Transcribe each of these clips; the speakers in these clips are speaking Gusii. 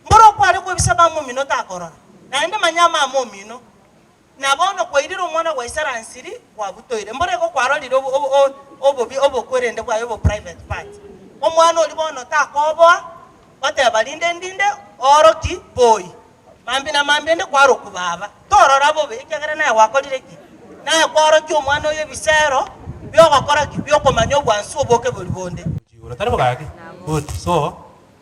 Mboro okware kwebisa mama omino takorora, naende manya amama omino, na bono kwairire omwana bwa isara nsiri kwabutoire. Mboro igo kwarorire obo obo o obobi obokwerende bwaye obo private part. Omwana oria bono takoboa goteba rinde ndinde oro ki boi. Mambi na mambi inde kwaroku baba. Torora bobe ekiagera naye gwakorire ki? Naye kwaorokia omwana oyo ebisero biogokora ki? Biokomanya obwansu oboke bori bonde. Gochigora tari bogaki, good, so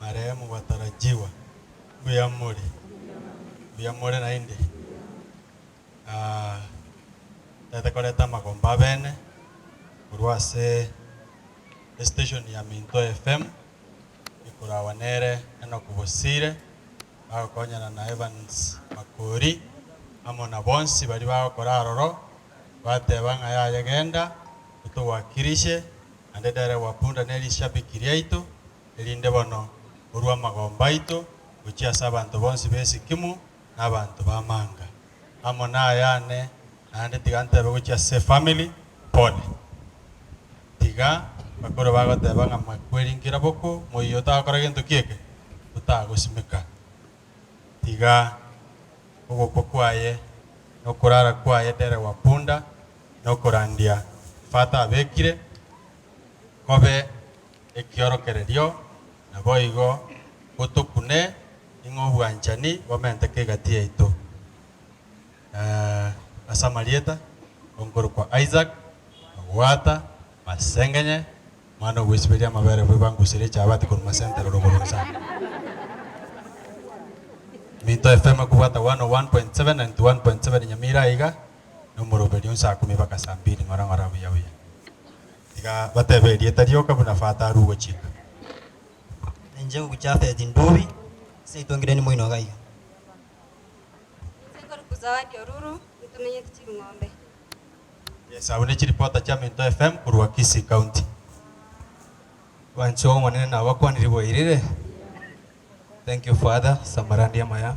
Marehemu batarajiwa. Mbuya mori? Mbuya more naende? Aah, ntagete koreta amagomba abene korwa ase estation ya Minto FM, ekoragwa nere Enock Bosire, bagokonyana na Evans Makori, amo na bonsi baria bagokora aroro, bateba ng'a yaya genda, totogoakirishe. naende dererwa punda nerishabiki riaito, erinde bono orue amagomba aito gochia ase abanto bonsi b'esikimu na abanto b'amanga. Amo nayane, naende tiga ntebe gochia ase family, pole. Tiga bakoro bagoteba ng'a mwakwerinkera bokwo, moyio otagokora gento ki'eke, otagosimeka. Tiga ogokwa kwaye nokorara kwaye dererwa punda nokorandia Tata abekire kobe ekiorokererio, naboigo gotokune ning'o obwanchani bomenteke egati yaito. Na as'amarieta onkorokwa Isaac, Ogwata, Masengenye, omwana ogwesiberia amabere bwe bangusirie chabati korwa Masentero rogoro nsa. Minto FM ekobwata 101.7 na 91.7 Nyamira aiga. nomoroberio onsi akumi baka saa mbiri ng'ora ng'ora buya buya. Tiga batebe erieta rioka buna fata aru ogochika. Na inche ngokwa Jafethi ndubi ase etongireni moino iga iga. Inche nkorokwa Zawadi Oruru ntumenyete Chirung'ombe. Yes, abwo ne chiripota chia Minto FM korwa Kisii County. Abanchwa b'Omonene nabakwanire bwairire. Thank you father, samurandi amaya.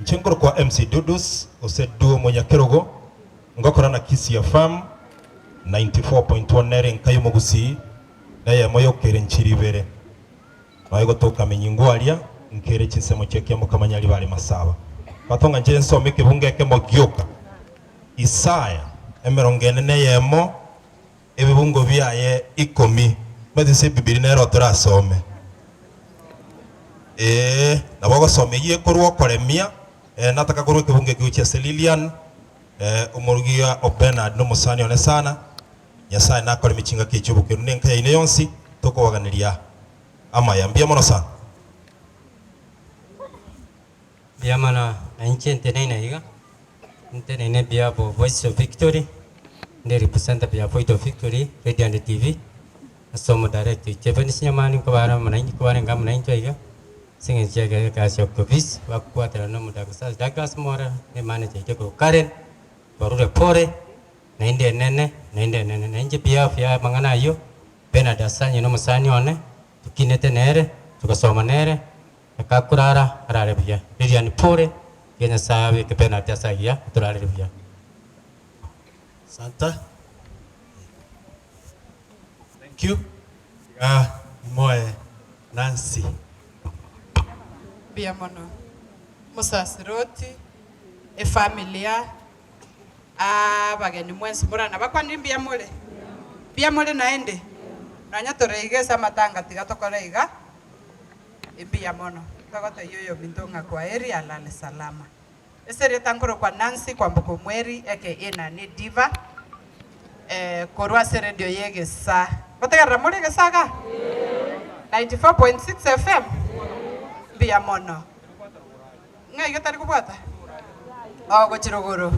Inche nkorokwa MC Dudus gose Duo Omonyakerogo, ngokora na Kisii FM 94.1 nere enka y'omogusii neyemo y'okere nchiri ibere. Noe gotoka amenyingo aria nkere chinsemo chi'ekiamokama nyaribare are masaba. Bato ng'a nche nsome ekebungo ekemo gioka Isaya emerongo ene neyemo. Ebibungo biaye ikomi. Omanyete inse Bibilia nero torasome. Ee, nabo ogosoma eyio ekorwa okoremia. Ee, nataka korwa ekebungo ekio gochia ase Lilian. Ee, omorigia o Bernard na omosani one sana. Nyasaye nakoremie chingaki echio bokero na enka yaino yonsi. Tokobaganeria amaya. Mbuya mono sana. Biamana, na inche nteneine iga, nteneine ebiabo Voice of Victory, ndi representer bia Voice of Victory radio and TV, ase omodirect oito ebe nisinya mani nkobare amo nainche kobarenge amo nainche iga, ase eng'encho ya egasi ya Octopis, bagokwatera na omodaktari Douglas Mora, na emanager yaito ekorwa Karen, barure pore, naende enene, naende enene. Na inche behalf ya amang'ana ayio, Bernard Assanyi na omosani one, tokinete nere, togasoma nere, Reka korara arare buya. Lilian Pole, Tiga Nyasae abeke penalty ase agiya otorarire buya. Asante. Thank you. Iga imoe Nancy. Mbuya mono. Omosasiroti, efamilia, abageni mwensi mora nabakwanire mbuya more? Mbuya more naende? Nonya toreigese amatanga tiga tokore iga. Mbuya mono. Togotebia oyominto ng'a kwaheri alale salama. Ase erieta nkorokwa Nancy kwamboka omweri aka ina ne Diva korwa ase radio ye egesaa. Ngotegerera more egesaa iga? 94.6 FM? Mbuya mono. Ng'a iga tari kobwata? Oo gochira igoro.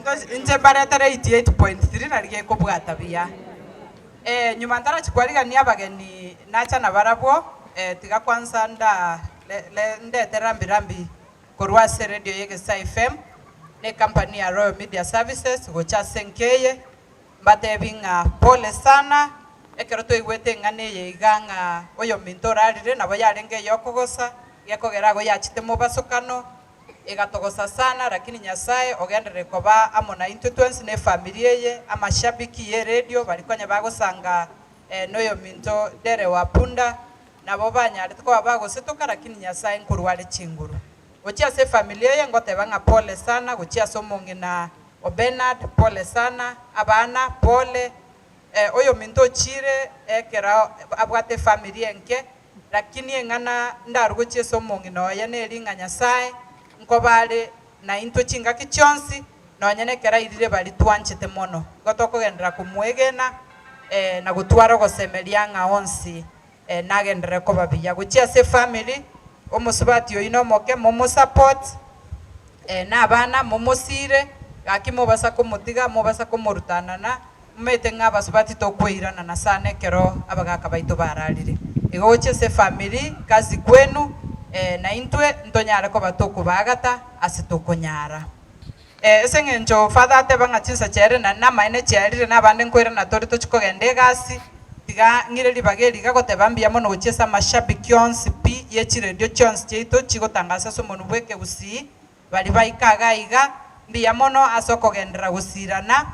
Ntoche inche mbaretere 88.3 nari gekobwata buya. Eh nyuma ntarachi kwarigania abageni nacha nabarabwo eh tiga kwansa nda le le ndete rambi rambi korwa ase radio ya Egesaai FM ne company ya Royal Media Services gocha ase enka eye. Mbateebie ng'a pole sana, ekero twaigwete eng'ana eye iga ng'a oyominto orarire nabo yarenge eyokogosa, gekogera agwo yachete mobasokano, egatogosa sana, lakini Nyasae ogenderere koba amo naintwe twensi ne efamiri eye. Amashabiki ye radio bari konya bagosa ng'a noyominto Dere wa Punda nabo banyarete koba bagosetoka, lakini Nyasae nkorware chinguru. Gochia ase efamiri eye ngoteeba ng'a pole sana gochia ase omong'ina O Bernard, pole sana. Abana, pole. Eh, oyominto ochiire ekero abwate efamiri enke, lakini eng'ana ndarugochie ase omong'ina oye neri ng'a Nyasae nkoba are naintwe chingaki chionsi, nonya nekero airire baria twanchete mono. Igo tokogenderera komoegena, eh, na gotwara ogosemeria ng'a onsi. Eh nagenderere koba buya gochia ase family, omosubati oyio nomoke momo support, eh na abana momosiire, gaki mobasa komotiga, mobasa komorutanana, momete ng'a abasubati tokweiranana sana ekero abagaka baito bararire. Igo gochia ase family, kazi kwenu, eh naintwe ntonyare koba tokobaagata ase tokonyara. Ee, ase engencho Father ateba ng'a chinsacha ere na namaene chiarire, nabande nkoirana tore tochi kogenda egasi, tiga ng'ire ribaga eri iga goteba mbuya mono gochia ase amashabiki onsi pi ye chiredio chionsi chiaito chigotangasa ase omonwa bw'ekegusii, bari baika iga iga mbuya mono ase okogenderera gosiirana,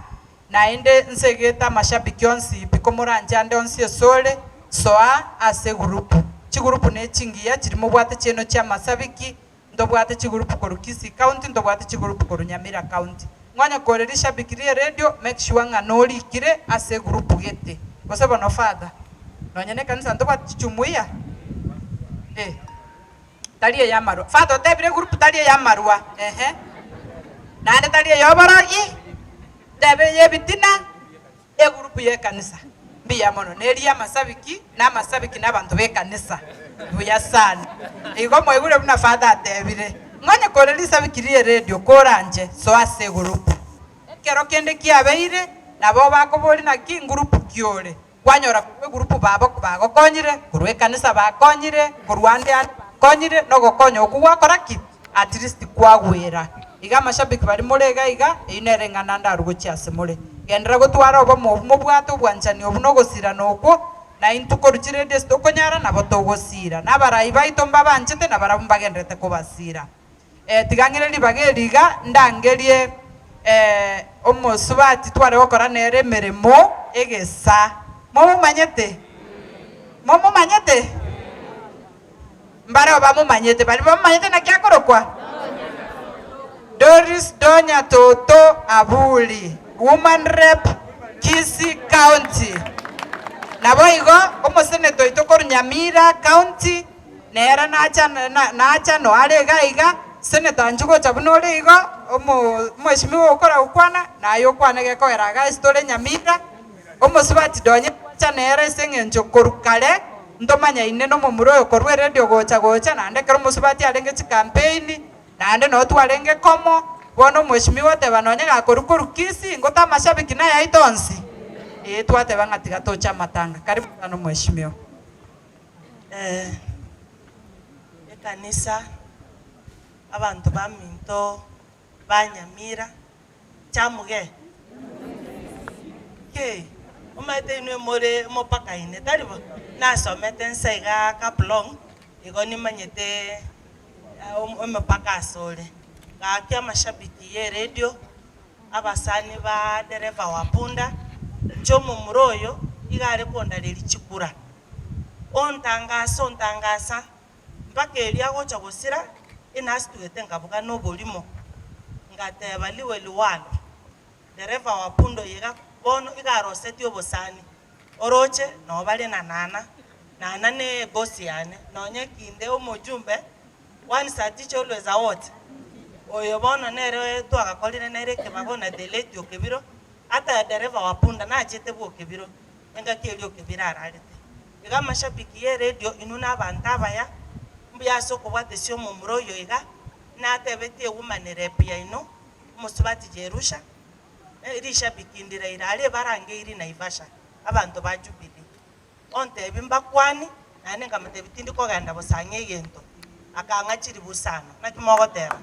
naende nsegete amashabiki onsi pi komoranche ande onsi esore, soa ase egurupu. Chigurupu ne chingiya chiri mobwate chiaino chi'amasabiki, ntobwate chigurupu korwa Kisii county, ntobwate chigurupu korwa Nyamira county. Ng'onye kore rishabiki rie radio make sure ng'a norikire ase egurupu gete. Gose bono father, nonya nekanisa ntobwate chijumuiya? Eh. Tari eyamarwa. Father otebire egurupu tari eyamarwa. Ehe. Naende tari eyoborogi, ntebe eyebitina. Egurupu y'ekanisa mbuya mono neri y'amasabiki, na amasabiki nabanto b'ekanisa. Mbuya sana. Igo mwaigure buna Father atebire, Ng'onye kore risabiki rie radio koranche, soa ase egurupu. Ekero kende kiabeire, nabao bakoboria naki ingurupu kiore, kwanyora korwa egurupu babo bagokonyire, korwa ekanisa bakonyire, korwa ande ande bakonyire, nogokonya okwo gwakora ki? At least kwagwera iga amashabiki baria more iga iga, eyio nere eng'ana ndarogochie ase more. Genderera gotwara obomo obwo mobwate obwanchani obwo na ogosirana okwo, na intwe korwa chiredio ase tokonyara nabo togosira, na abarai baito mbabanchete na barabwo mbagendererete kobasira. Eh, tiga ng'ire ribaga eri iga, ndangerie eh, omosubati tware gokora nere emeremo egesa. Momomanyete? Momomanyete? Mbareo bamomanyete, baria bamomanyete naki akorokwa, Doris Donya Toto Abuli, Woman Rep, Kisii County. Naboigo omoseneta oito korwa Nyamira County, nere nacha nacha noare iga iga, Senator Njugu ocha buna ore igo, omo omweshimiwa okora gokwana, naye okwane gekogera iga ase tore Nyamira. Omosubati ndonye ngwacha nere ase engencho korwa kare ntomanyaine nomomura oyo korwa eredio gocha gocha naende ekero omosubati arenge chikampeni naende noo twarenge komo bono omweshimiwa oteba nonye gakorwa korwa Kisii ngote amashabiki naye aito onsi ee twateba ng'a tiga toche amatanga karibu sana omweshimiwa. Ekanisa abanto baminto. ba Nyamira. Chamuge. Kei, omanyete inwe more mopakaine, tari bo? Nasomete nsa iga kablong, igo nimanyete omopaka ase ore. Gaki amashabiki ye radio, abasani ba dereva wa punda, inche omomura oyo iga are kondareria chikura. Ontangasa, ontangasa. Mpaka erio agocha gosira inasituhete nkabuga noborimo, ngateba liwe liwalo, Dereva wa pundo eye iga bono iga arosetie obosani, oroche noo bare na nana, nana ne ebosi yane, nonye kinde omojumbe one satiche always out, oyo bono nere twagakorire nere ekebago na the late Okebiro, ata dereva wa punda nachete bwa Okebiro, engaki eria Okebiro ararete. Iga amashabiki y'eredio inwe nabanto abaya, mbuya ase okobwatesia omomura oyo iga natebetie woman rep yaino omosubati Jerusha erishabiki ndiraira aria ebarange iri Naivasha abanto ba Jubilee ontebi mbakwani naende nkamotebi tindi kogenda gosang'ia egento akang'a chiribu sana naki mogoteba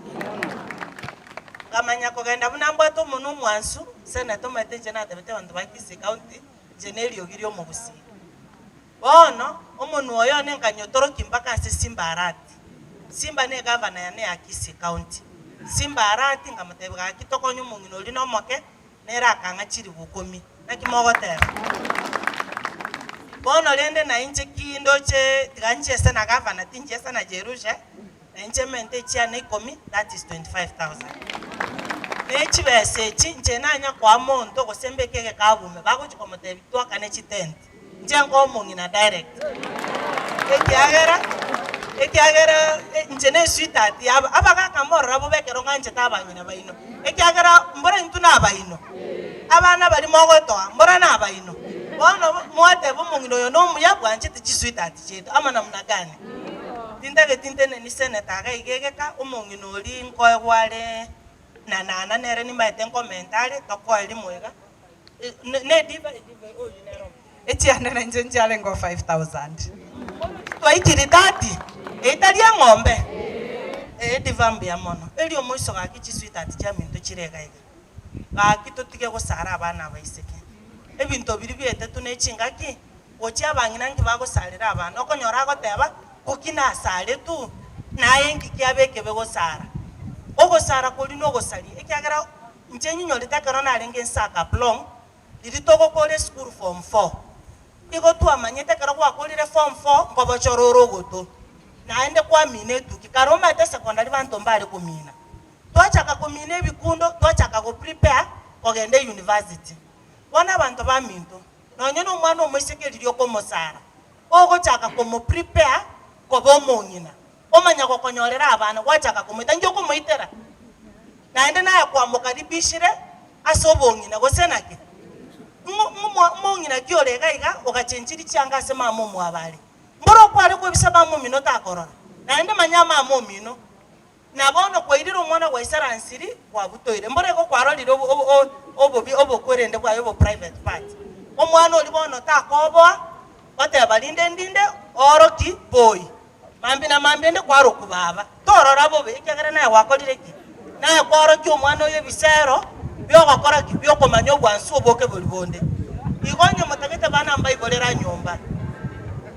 nkamanya kogenda buna mbwate omonwa omwansu Senate omanyete inche natebete abanto ba Kisii county inche neriogi ri'omogusii. Bono, omonwa oyone nkanyotorokia mpaka ase Simba Arati. Simba negavana yane ya Kisii County. Simba Arati nkamotebia gaki tokonye omong'ina oria nomoke, nere akang'a chiribu ikomi. Naki mogoteba? Bono rende nainche ki ndoche tiga nchiese na gavana, tinchiesa na Jerusha? na inche mente echiana ikomi, that is 25,000. Na echibesa echi inche nanya koa monto gose mbeke egekabume bagochia komotebi twakane chitenti, inche nkoe omong'ina direct ekiagera ekiagera inche ne sweetheart yabo. Abagaka morora bobe ekero ng'anchete abang'ina baino ekiagera mbora intwe nabaino, abana baria mogotoa mbora nabaino. Bono mwateba omong'ina oyo nomuya bwanchete chisweetheart chiaito ama namna gani? Tintageti nteneni seneta agaigegeka omong'ina oria nkoegwa are na nana nere nimaete nkomenta are tokoeri moiga ne edivai edivai oyio nere omo. Echianda na inche nchiarenge o five thousand bono titwaitirie thirty eye tari eng'ombe ee ediva mbuya mono erio omoiso gaki chisweetheart chia minto chire iga iga gaki totige gosara abana abaiseke ebinto biria biaetetwe ne chingaki. gochia abang'ina inki bagosarera abana, okonyora agoteba, Ngoki nasare tu, naye inki kiabe ekebe gosara? Ogosara koria nogosari, ekiagera inche ninyorete ekero narenge inse aa Kaplong', riria togokora esukuru form four, igo twamanyete ekero gwakorire form four nkobochora ore ogoto, naende kwamina etuki, kare omanyete secondary banto mbare komina, twachaka komina ebikundo twachaka goprepare kogenda eyunivasiti, bono abanto baminto. nonya nomwana omoiseke riria okomosara, ogochaka komoprepare koba omong'ina, omanya gokonyorera abana, gwachaka komoita, inki okomoitera? Naende naye kwamokaribishire ase obong'ina, gose naki? Ng'o- ng'o- omong'ina ki ore iga iga ogachenchiri chianga ase mama omwabo are? Mboro okware kwebisa mama omino takorora, naende manya mama omino. Na bono kwairire omwana bwa Isara nsiri kwabutoire. Mborego kwarorire obo obo o obobi obokwerende bwaye obo private part. Omwana oria bono takoboa oteba rinde ndinde ooroki boi. Mambi na mambi ende kwaroku baba. Torora bobe ekiagera naye gwakorire ki? Naye kwaorokia omwana oyo ebisero biogokora ki? Biokomanya obwansu oboke bori bonde. Igo onye motagete bana mbaibore ra nyomba.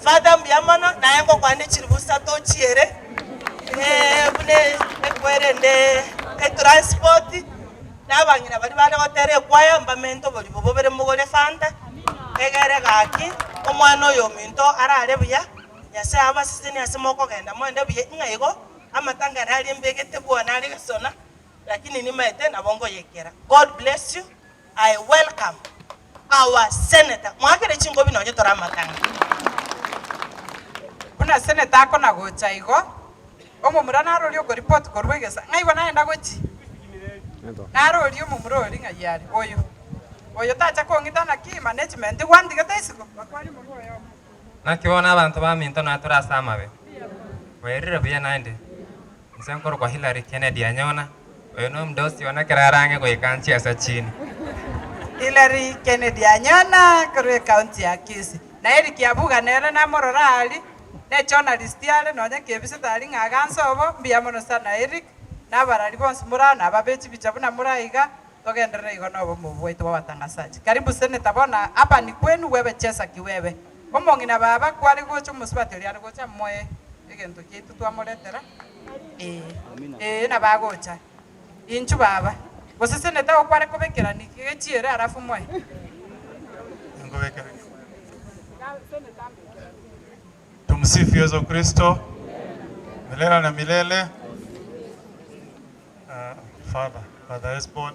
Father mbuya mono, naye ngokwane chilifu isato chiere, eh, buna ekwerende etransport, na abang'ina baria bande gotera ekwaya, mbamente oborimo bobere mogore fanta, egere gaki, omwana oyo ominto arare buya, Nyasaye abasesenie ase mokogenda moende buya ng'a igo, amatangare aria mbegete bwane are gesona, lakini nimaete nabo ngoyekera. God bless you, I welcome. Our senator mwakere chingobi nonye tore amatang'ani. Buna senator akona gocha igo, omomura narorie oko report korwa egesa, ng'ai bo nagenda gochi? Narorie omomura oria ng'ai are, oyo, oyo tacha kong'ita naki management igo andigete isiko? Naki bono abanto baminto natore ase amabe, bairire buya naende, Inse nkorokwa Hillary Kennedy Anyona, oyo nomda osiona ekero arang'e goika nchie ase chine. Hillary Kennedy Anyona korwa ecounty ya Kisii. Na Eric Abuga nere namorora aria, ne journalist are nonya kebisete aria ng'a aganse obo, mbuya mono sana Eric, na abarari bonsi more aa naba be chibicha buna more aiga, togenderere igo nobomo obwaito bwa watangasaji. Karibu Senator bono aba nikwenu, bwebe chesa kiwebe. Omong'ina baba kware gocha omosubati oria are gocha amoe egento giaito twamoretera? Ee, ee nabagocha. Inchu baba, gose senete ago kware kobekera ni gechiere arafu moe? Nkobekera Tumsifu Yesu Kristo milele na milele. Father, Father Esbon.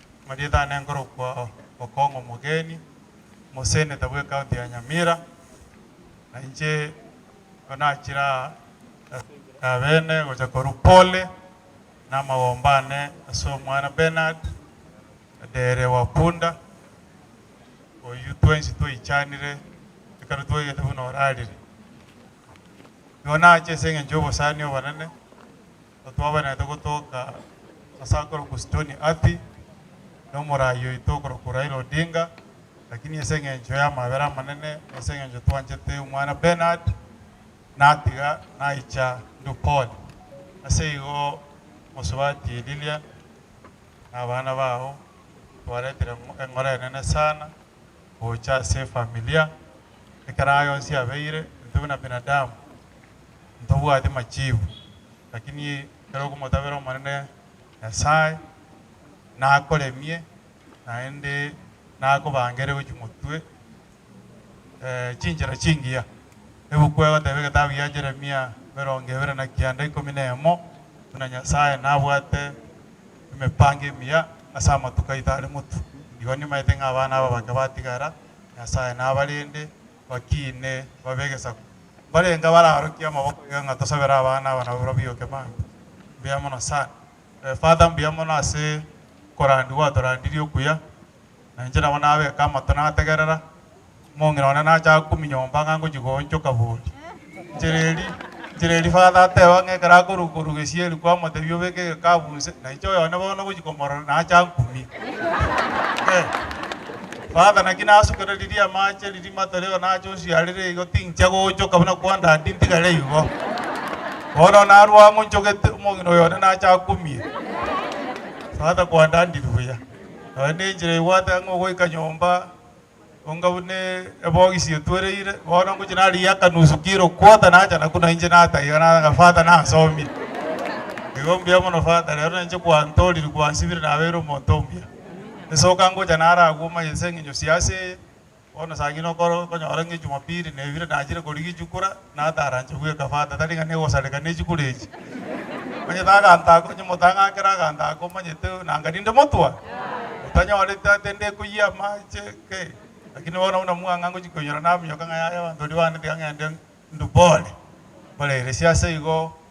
Marietane nkorokwa Okong'u omogeni omoseneta bw'ecounty ya Nyamira, na inche nigo nachire aa ase enchera y'abene gocha korwa pole namagomba ane ase omwana Bernard Adere Wapunda, oyio twensi twaichanire ekero twaigete buna orarire. Nigo nache ase engencho y'obosani obonene. Totwabaneete gotoka ase akorokwa Stony Athi nomoraai oito okorokwa Raila Odinga, lakini ase engencho y'amabera amanene na ase engencho twanchete omwana Bernard, natiga naicha ndwe pole. Ase igo Mosubati Lilian na abana bao twaretire eng'ora enene sana gocha ase efamilia, ekero aye onsi abeire, intwe buna binadamu, ntobwati machiibu, lakini ekero okomotabera Omonene Nyasae, nakoremie, naende nakobangere gochia omotwe chinchera chingiya. Ebuku egoteba egetabu gia Yeremia emerongo ebere na kianda ikomi na emo, buna Nyasae nabwate emepango emiya ase amatuko aito are motu, igo nimaete ng'a abana aba bake batigara, Nyasae nabarende, bakiine, babe egesaku. Mbarenge abararokie amaboko iga ng'a tosabere abana aba nabo barobio kemambe. Mbuya mono sana. Eh, Father mbuya mono ase okorandi gwatorandirie okuya. Na inche nabo nabeka amato nategerera. Omong'ina one nacha akumia nyomba ng'a ngochia goonchoka bori. Nchera eria Father ateba ng'a ekero akoruga korwa gesieri kwamotebia obeke egekabu inse, na inche oyone bono ngochia komorora nacha nkumie. Father naki nasukere riria amache riria matorio nache osiarire igo tinchia gochoka buna kwa Daddy ntigare igo. Bono narwo ang'u nchogete omong'ina oyone nache akumie. Father kwa Daddy ribuya. Nonye nenchera egwete ang'u ogoika nyomba. Onga buna ebogisi etwereire, bono ngochia narigia akanusu kiro, quarter, nacha na kune inche nataka iga nataka Father nansomie. Igo mbuya mono Father, rero na inche kwantoriri kwansibire nabeire omonto omuya. Esoka ngocha naro agwo omanye ase eng'encho sia ase eye, bono saa ng'ina okoro okonyora ng'a Ejumapili nebire nachire korigia echukura, Nataranche bweka fata, tari ng'a negosareka ne chikure echi. Onye tagantaka, onye motang'ankera agantaka omanyete nanga ninde motwa? Motanyorete ate ndekoyia amache? Ki! Lakini bono buna mwang'a ngochia koinyora naminyoka ng'a yaya abanto ribaanete iga ng'ende ndubore. Mbarairesie ase igo